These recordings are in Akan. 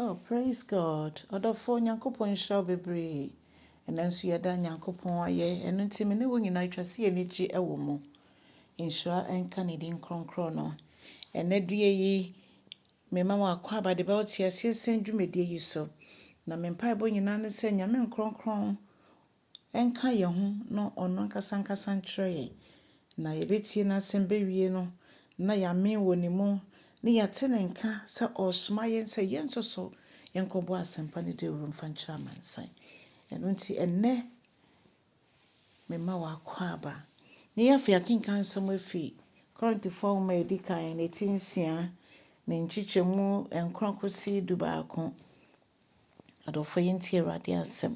Oh praise God ɔdɔfoɔ Nyankopɔn nhyira wo bebree ɛnɛ nso yɛda Nyankopɔn ayɛ ɛno nti me ne wo nyinaa ɛtwa sɛ yɛni gye ɛwɔ mu nhyira ɛnka ne din kronkron no ɛnɛ due yi me ma wɔ akɔ aba de bɛwo te aseɛ sɛn dwumadie yi so na me mpaebɔ nyinaa ne sɛ Nyame nkronkron nka yɛn ho na ɔno ankasa nkasa nkyerɛ yɛn, na yɛbɛtie n'asɛm bɛwie no, na yɛamee wɔ ne mu, na yɛate ne nka sɛ ɔresoma yɛn sɛ yɛn nso so yɛnkɔbɔ asɛmpa no dawuro mfa nkyerɛ amansan. Ɛno nti, ɛnnɛ mema wo akwaaba. Ne yɛn afei akenkan nsɛm afi Korintofoɔ nwoma a ɛdi kan, ne ti nsia, ne nkyekyɛmu nkron kɔsi dubaako. Adɔfoɔ, yɛntie Awurade asɛm.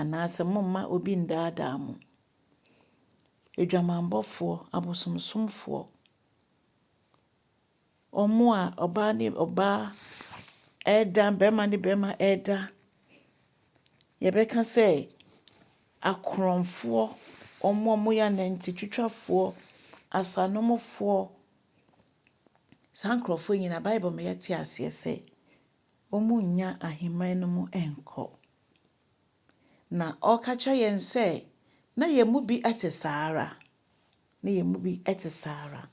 anaasɛ momma obi nnaadaa mo. Adwamammɔfoɔ, abosomsomfoɔ, wɔn a ɔbaa ne ɔbaa reda, barima ne barima reda, yɛbɛka sɛ akorɔmfoɔ, wɔn a wɔyɛ anantitwitwafoɔ, asanomfoɔ, saa nkurɔfoɔ nyinaa, Bible ma yɛte aseɛ sɛ, wɔnnya ahemman no mu nkɔ. Na ɔreka kyerɛ yɛn sɛ na yɛn mu bi te saa ara, na yɛn mu bi te saa ara.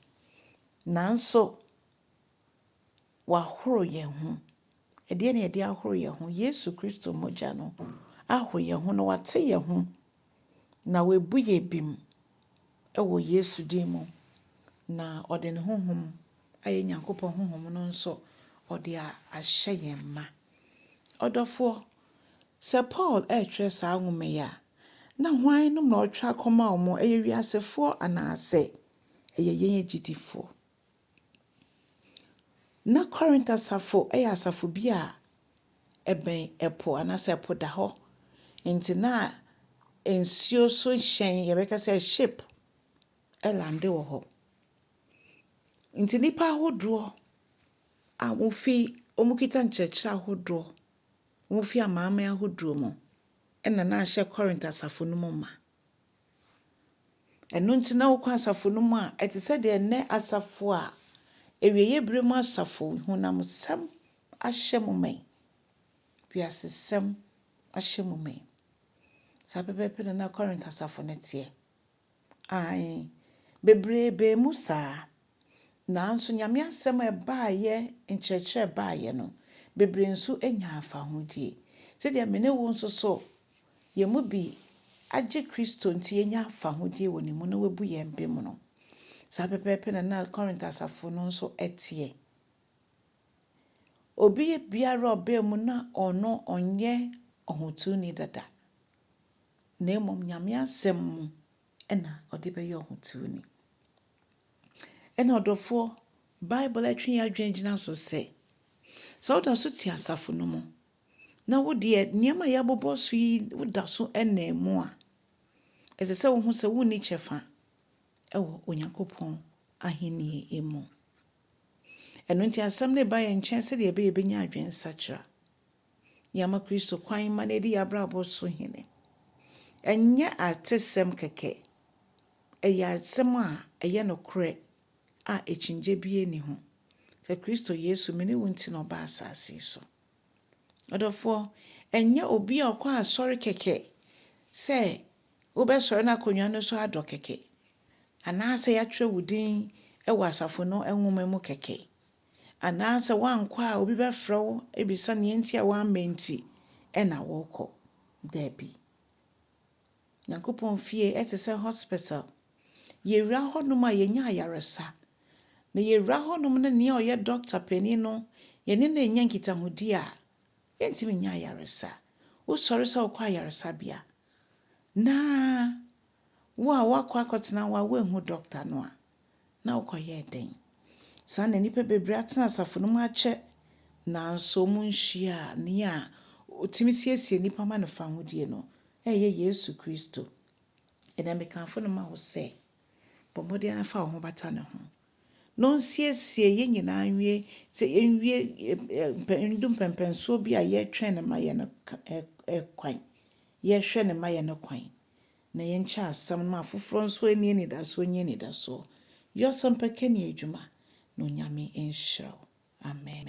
Nanso wahoro yɛn ho. Ɛdeɛn na yɛde ahoro yɛn ho? Yesu Kristo mogya no ahoro yɛn ho na wate yɛn ho. na wabu yɛ bem wɔ Yesu din mu, na ɔde ne honhom a ɛyɛ Nyankopɔn honhom no nso ɔde ahyɛ yɛn ma. Ɔdɔfoɔ, sɛ Paul retwerɛ saa nwoma yi a, na hwan nom na ɔretwerɛ akɔma wɔn? Ɛyɛ wiasefoɔ anaasɛ ɛyɛ yɛn agyidifoɔ? Ná Korint asafo yɛ asafo bi a ɛbɛn ɛpo anaasɛ ɛpo da hɔ. Nti na nsuo so hyɛn, yɛbɛka sɛ ship, lande wɔ hɔ. Nti nnipa ahodoɔ a wɔfi, wɔkita nkyerɛkyerɛ ahodoɔ, wɔfi amanaman ahodoɔ mu na na ahyɛ Korint asafo no mu ma. Ɛno nti na wokɔ asafo no mu a, ɛte sɛ deɛ nnɛ asafo a awieeɛ berɛ mu asafo honamsɛm ahyɛ mo ma yi, wiasesɛm ahyɛ mo ma yi. Saa pɛpɛɛpɛ na na Korint asafo no teɛ. Aane, bebree baa mu saa. Nanso Nyame asɛm a ɛbaeɛ nkyerɛkyerɛ baeɛ no, bebree nso nyaa fahodie. Sɛdeɛ me ne wo nso so, yɛn mu bi agye Kristo nti yɛanya fahodie wɔ ne mu na wabu yɛn bem no, saa pɛpɛɛpɛ na na Corinth asafo no nso teɛ. Obi biara a ɔbaa mu na ɔno ɔnyɛ ɔhotuni dada, na mmom Nyame asɛm mu na ɔde bɛyɛ ɔhotuni. Ɛnna ɔdɔfoɔ, Bible atwe yɛn adwene agyina so sɛ, sɛ woda so te asafo no mu na wo deɛ nneɛma a yɛabobɔ so yi woda so nam mu a, ɛsɛ sɛ wohu sɛ wonni kyɛfa wɔ Onyankopɔn ahenni mu. Ɛno nti asɛm no ba yɛn nkyɛn sɛdeɛ ɛbɛyɛ yɛbɛnya adwensakyera. Yɛama Kristo kwan ma no adi yɛn abrabɔ so hene. Ɛnyɛ atesɛm kɛkɛ, ɛyɛ asɛm a ɛyɛ nokorɛ a akyinnye biara nni ho sɛ Kristo Yesu, me ne wo nti na ɔbaa asase yi so. Ɔdɔfoɔ, ɛnyɛ obi a ɔkɔ asɔre kɛkɛ sɛ wobɛsɔre n'akonnwa no so adɔ kɛkɛ, anaasɛ yɛatwerɛ wo din wɔ asafo no nwoma mu kɛkɛ, Anaasɛ woankɔ a obi bɛfrɛ wo abisa nea enti a woamma nti na worekɔ? Dabi. Nyankopɔn fie te sɛ hospital. Yewura hɔnom a yenya ayaresa. Na yewura hɔnom ne nea ɔyɛ dɔkta panyin no, yɛne no annya nkitahodi a, yentumi nnya ayaresa. Wosɔre sɛ wokɔ ayaresabea na wo a woakɔ akɔtena hɔ a woanhu dɔkta no a, na wokɔyɛɛ dɛn? Saa na nnipa bebree atena asafo no mu akyɛ, nanso wɔnhyiaa Nea otumi siesie nnipa ma no fahodie no, ɛyɛ Yesu Kristo. Ɛnnɛ mekamfo no ma wo sɛ, bɔ mmɔden ara fa wo ho bata ne ho, na ɔnsiesie yɛn nyinaa nwie sɛ yɛnwie mpɛ ndu mpɛmpɛnsoɔ bi a yɛretwɛn no ma yɛn no kwan, yɛrehwɛ no ma yɛn no kwan. na yɛnkyɛ asɛm no ma afoforɔ nso ɛnni anidasoɔ nnya anidasoɔ. Yɛ ɔsɛmpakani adwuma na Onyame nhyira wo. Amen.